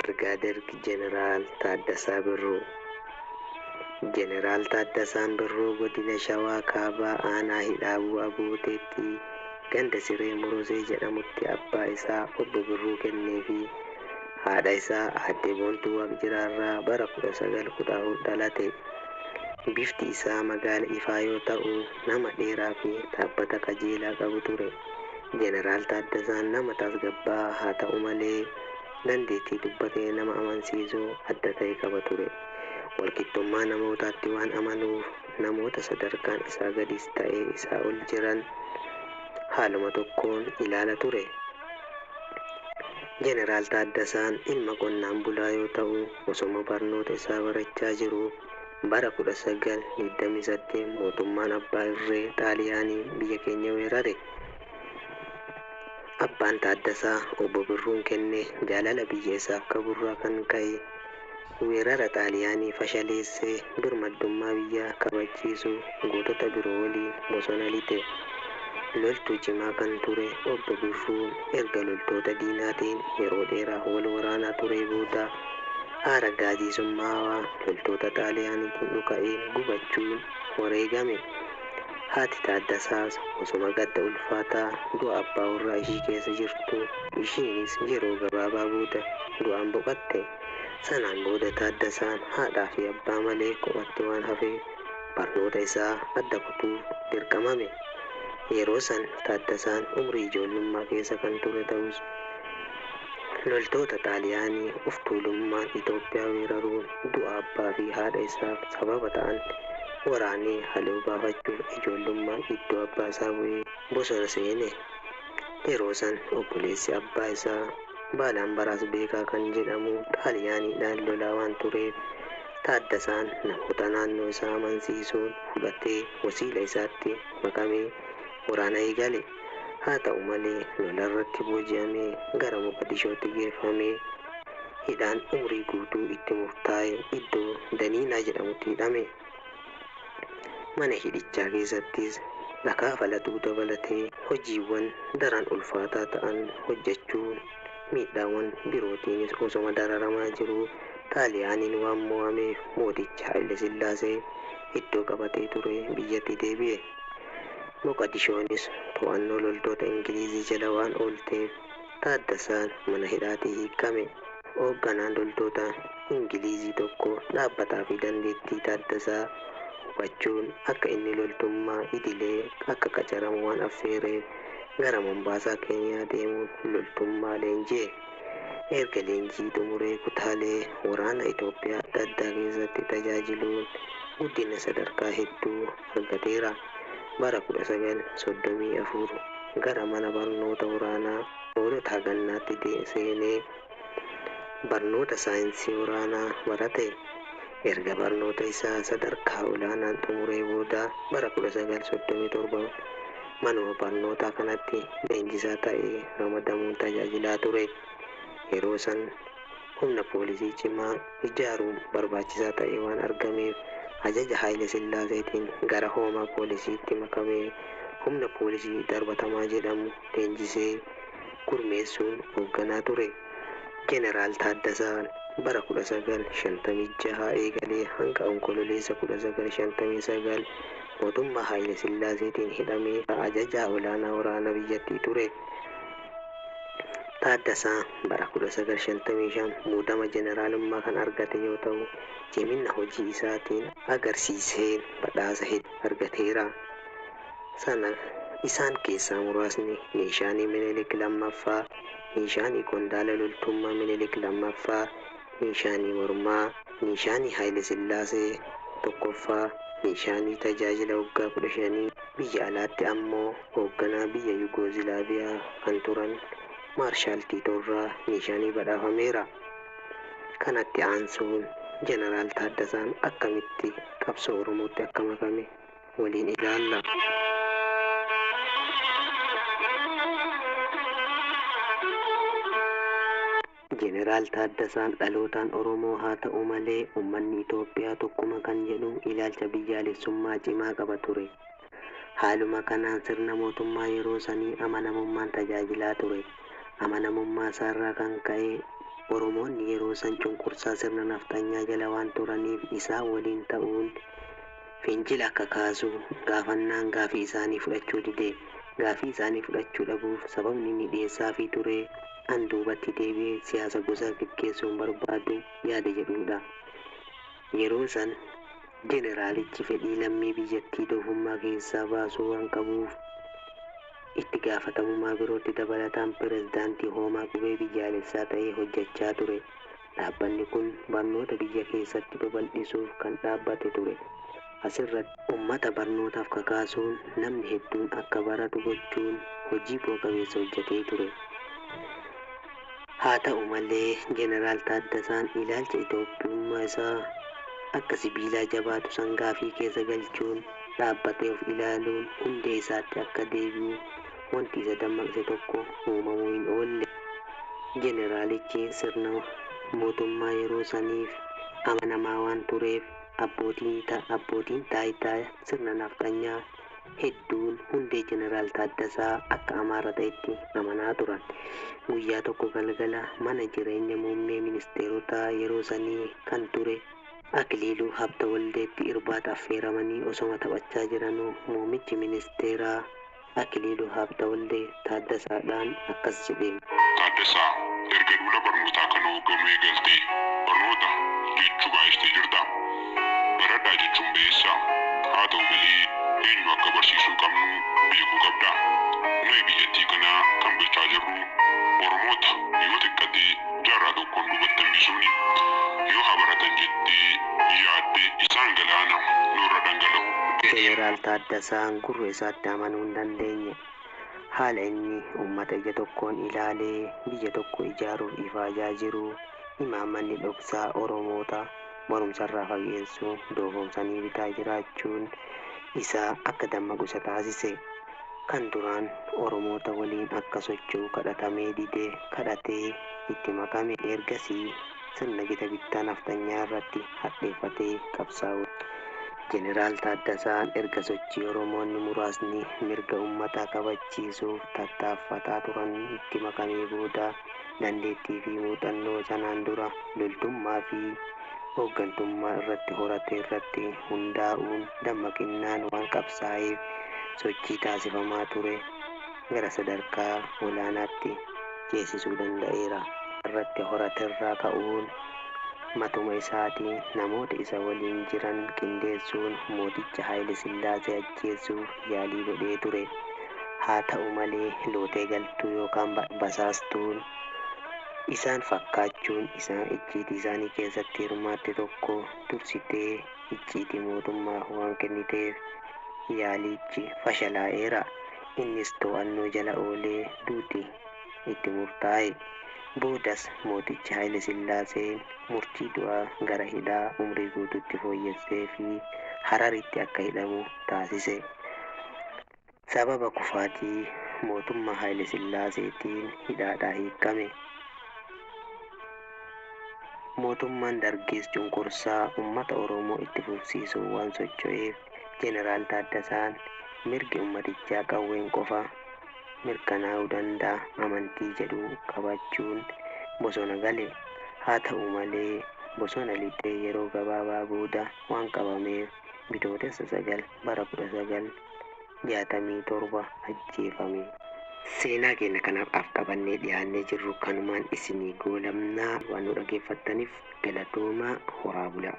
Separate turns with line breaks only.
Birgaader Jeneraal Taaddasaa Birruu Jeneraal Taaddasaan Birruu Godina Shawaa Kaabaa Aanaa Hidhaabuu Abooteetti ganda Siree Morosee jedhamutti abbaa isaa Obbo Birruu Kennee fi haadha isaa Aadde Boontuu Waaqjiraa irraa bara 1914 dhalate. Bifti isaa magaala ifaa yoo ta'u, nama dheeraa fi dhaabbata qajeelaa qabu ture. Jeneraal Taaddasaan nama tasgabbaa'aa haa ta'u malee dandeettii dubbatee nama amansiisu adda ta'e qaba ture. Walqixxummaa namootaatti waan amanuuf namoota sadarkaan isaa gadis ta'e isaa ol jiran haaluma tokkoon ilaala ture. Jeneraal Taaddasaan ilma qonnaan bulaa yoo ta'u osoma barnoota isaa barachaa jiruu, Bara 1928 mootummaan abbaa irree Xaaliyaanii biyya keenya weerare. Abbaan Taaddasaa Obbo Birruun kenne jaalala biyya isaaf qaburraa kan ka'e weerara Xaaliyaanii fashaleessee birmaddummaa biyyaa kabachiisuu gootota biroo waliin bosona lixe. Loltuu cimaa kan ture Obbo Birruun erga loltoota diinaatiin yeroo dheeraaf wal waraanaa turee booda, Aaraggaazii summaawaa loltoota Xaaliyaaniitiin dhuka'een gubachuun wareegame. Haati Taaddasaas osoma gadda ulfaataa du'a abbaa warraa ishii keessa jirtuu, ishiinis yeroo gabaabaa booda du'aan boqatte. Sanaan booda Taaddasaan haadhaa fi abbaa malee kophatti waan hafeef barnoota isaa adda kutuuf dirqamame. Yeroo san Taaddasaan umrii ijoollummaa keessa kan ture ta'us, Loltoota Xaaliyaanii of tuulummaan Itoophiyaa weeraruun du'a abbaa fi haadha isaaf sababa ta'an waraanee haloo baafachuuf ijoollummaan iddoo abbaa isaa bu'ee bosona seene. Yeroo san obboleessi abbaa isaa Baalaambaraas Beekaa kan jedhamu Xaaliyaaniidhaan lolaa waan tureef Taaddasaan namoota naannoo isaa amansiisuun fudhatee wasiila isaatti makamee waraana eegale. Haa ta'u malee lola irratti booji'amee gara Moqadishootti geeffamee hidhaan umrii guutuu itti murtaa'e iddoo Daniinaa jedhamutti hidhame. Mana hidhichaa keessattis dhakaa falaxuu dabalatee hojiiwwan daran ulfaataa ta'an hojjechuun miidhaawwan birootiinis osoma dararamaa jiruu Xaaliyaaniin waan mo'ameef mootichi Hayilesillaasee iddoo qabatee ture biyyatti deebi'e. Moqadishoonis to'annoo loltoota Ingilizii jala waan oolteef Taaddasaan mana hidhaatii hiikkame. Hoogganaan loltoota Ingilizii tokko dhaabbataa fi dandeettii Taaddasaa hubachuun akka inni loltummaa idilee akka qacaramu waan affeereef gara Mombaasaa, Keeniyaa deemuun loltummaa leenji'e. Erga leenjii xumuree kutaalee waraana Itoophiyaa adda addaa keessatti tajaajiluun guddina sadarkaa hedduu argateera. Bara 1934 gara mana barnoota waraanaa Hoolotaa Gannaatti seenee barnoota saayinsii waraanaa barate. Erga barnoota isaa sadarkaa olaanaan xumuree booda bara 1937 manuma barnootaa kanatti leenjisaa ta'ee ramadamuun tajaajilaa ture. Yeroo san. Humna poolisii cimaa ijaaruun barbaachisaa ta'ee waan argameef ajaja Haayile Sillaaseetiin gara hoomaa poolisiitti makamee humna poolisii darbatamaa jedhamu leenjisee gurmeessuun hoogganaa ture. Jeneraal Taaddasaan bara 1956 eegalee hanga Onkololeessa 1959 mootummaa Haayile Sillaaseetiin hidhamee ajajaa olaanaa waraana biyyattii ture. Taaddasaa bara 1955 muudama jeneraalummaa kan argate yoo ta'u, ciminna hojii isaatiin agarsiiseen badhaasa hedduu argateera. Sana isaan keessaa muraasni Niishaanii Minilik 2ffaa, Niishaanii Qondaala Loltummaa Minilik 2ffaa, Niishaanii Mormaa, Niishaanii Haayile Sillaasee, 1ffaa, Niishaanii Tajaajila Waggaa 15, biyya alaatti ammoo hoogganaa biyya Yugoozilaaviyaa kan turan Maarshaal Tiitoorraa Niishaanii badhaafameera. Kanatti aansuun Janaraal Taaddasaan akkamitti qabsoo Oromootti akka makame waliin ilaalla. Jeneraal Taaddasaan dhalootaan Oromoo haa ta'u malee ummanni Itoophiyaa tokkuma kan jedhu ilaalcha biyyaalessummaa cimaa qaba ture. Haaluma kanaan sirna mootummaa yeroo sanii amanamummaan tajaajilaa ture. Amanamummaasaarraa kan ka'e Oromoonni yeroo san cunqursaa sirna nafxanyaa jala waan turaniif isaan waliin ta'uun, fincila akka kaasu gaafannaan gaafii isaanii fudhachuu dide. Gaafii isaanii fudhachuu dhabuuf sababni inni dhiyeessaafii ture an duubatti deebi'ee siyaasa gosaa geggeessuu hin barbaadu yaada jedhuudha. Yeroo san jeneraalichi fedhii lammii biyyattii doofummaa keessaa baasuu waan qabuuf itti gaafatamumaa birootti dabalataan pirezidaantii hoomaa qubee biyyaalessaa ta'ee hojjachaa ture. Dhaabbanni kun barnoota biyya keessatti babal'isuuf kan dhaabbate ture. Asirratti. Ummata barnootaaf kakaasuun namni hedduun akka baratu gochuun hojii bu'a qabeessa hojjatee ture. Haata'u malee Jeneraal Taaddasaan ilaalcha Itoophiyummaa isaa akka sibiilaa jabaatu sangaafii keessa galchuun dhaabbatee of ilaaluun hundee isaatti akka deebi'u, wanti isa dammaqse tokko uumamuu hin oolle. Jeneraalichi sirna mootummaa yeroo saniif amanamaa waan tureef abbootiin taayitaa sirna nafxanyaa hedduun hundee Jeneraal Taaddasaa akka Amaara ta'etti amanaa turan. Guyyaa tokko galgala mana jireenya muummee ministeerotaa yeroo sanii kan ture Akiliiluu Habtawaldeetti irbaata affeeramanii osoma taphachaa jiranuu muummichi ministeeraa, Akiliiluu Haabtawaldee Taaddasaa dhaan akkas jedheen. Taaddasaa,
erga duula barnootaa kana hoogganuu eegaltee barnoota jechuu baay'istee jirta. Baradhaa jechuun ba'eessa. Haa ta'u malee, eenyu akka barsiisuu qabnu beekuu qabda. Nuyi biyyattii kana kan bulchaa jirru Oromoota yoo xiqqate jaarraa tokkoon duubatti hambisuuni. Yoo haa baratan jettee yaadde isaan galaana nurra dhangala'u. Jeneraal
Taaddasaan gurra isaatti amanuu hin dandeenye. Haala inni ummata ija tokkoon ilaalee biyya tokko ijaaruuf ifaajaa jiru imaammanni dhoksaa Oromoota barumsarraa fageessu doofomsanii bitaa jiraachuun isaa akka dammaqu isa taasise. Kan duraan Oromoota waliin akka socho'u kadhatamee dide kadhatee itti makame. Ergasii. sirna gita bittaa nafxanyaa irratti hadheeffatee qabsaawuu dha. Jeneraal Taaddasaan erga sochii Oromoonni muraasni mirga ummataa kabachiisuuf tattaaffataa turan itti makamee booda dandeettii fi muuxannoo sanaan dura loltummaa fi ooggantummaa irratti horate irratti hundaa'uun dammaqinnaan waan qabsaa'eef sochii taasifamaa ture gara sadarkaa olaanaatti ceesisuu danda'eera. irratti horaterraa ka'uun matuma isaati namoota isa waliin jiran qindeessuun mooticha Haayilesillaasee ajjeessuuf yaalii godhee ture. Haa ta'u malee lootee galtuu yookaan basaastuun isaan fakkaachuun isaan icciitii isaanii keessatti hirmaatte tokko dursitee icciitii mootummaaf waan kenniteef yaaliichi fashalaa'eera. Innis to'annoo jala oolee duuti itti murtaa'e. Boodas mootichi Haayile Sillaaseen murtii du'aa gara hidhaa umrii guutuutti fooyyesseefii Hararitti akka hidhamu taasise. Sababa kufaatii mootummaa Haayile Sillaaseetiin hidhaadhaa hiikkame. Mootummaan Dargiis cunqursaa ummata Oromoo itti fufsiisuuf waan socho'eef, Jeneraal Taaddasaan mirgi ummatichaa qawween qofa mirkanaa'uu danda'a amantii jedhu qabaachuun bosona gale. Haa ta'u malee, bosona lixee yeroo gabaabaa booda waan qabameef Bitootessa 9 bara 1967 ajjeefame. Seenaa keenya kan har'aaf qabannee dhiyaannee jirru kanumaan isinii goolabna. Waan nu dhaggeeffattaniif galatoomaa. Horaa bulaa.